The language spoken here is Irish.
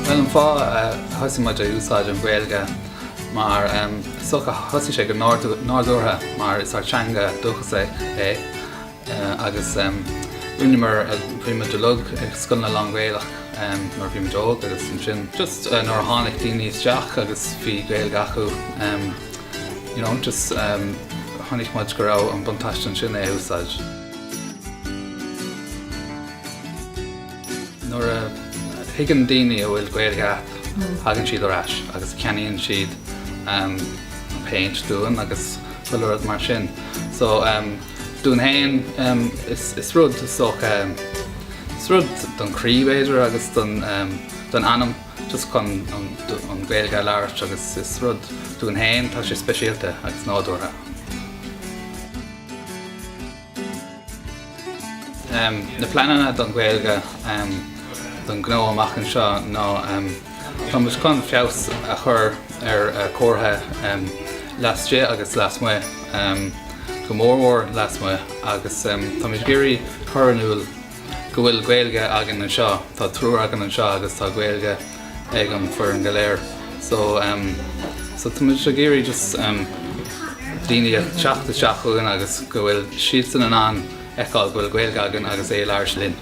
Bhuel, an fáth a thosaigh muid a úsáid an Ghaeilge mar sochaí, thosaigh sé go nádúrtha mar is ár teanga dúchais é. agus rinneamar bhí muid ag dul ag scoileanna lán-Ghaelach nuair bhí muid óg agus ansin just nuair a tháinig daoine isteach agus bhí gaeilge acu you know just chonaic muid go raibh an buntáiste ansin é a úsáid. nuair a thuigeann daoine go bhfuil gaeilge agat thagann siad ar ais agus ceannaíonn siad paint dúinn agus chuile rud mar sin so Dúinn fhéin, is rud sách, is rud don chroí b'fhéidir agus don anam just chun an Ghaeilge a labhairt agus is rud dúinn fhéin, tá sé speisialta agus nádúrtha. Na pleananna don Ghaeilge, don ghnó amach anseo ná. Tá muid chun feabhas a chur ar ár comharthaí laistigh agus lasmuigh, go mór mór lasmuigh, agus tá muid ag iarraidh cur in iúl go bhfuil Gaeilge againn anseo, tá triúr againn anseo agus tá Gaeilge ag an foireann go léir. So tá muid ag iarraidh just daoine a teacht isteach chugainn agus go bhfuil siadsan in ann fheiceáil go bhfuil Gaeilge againn agus é labhairt linn.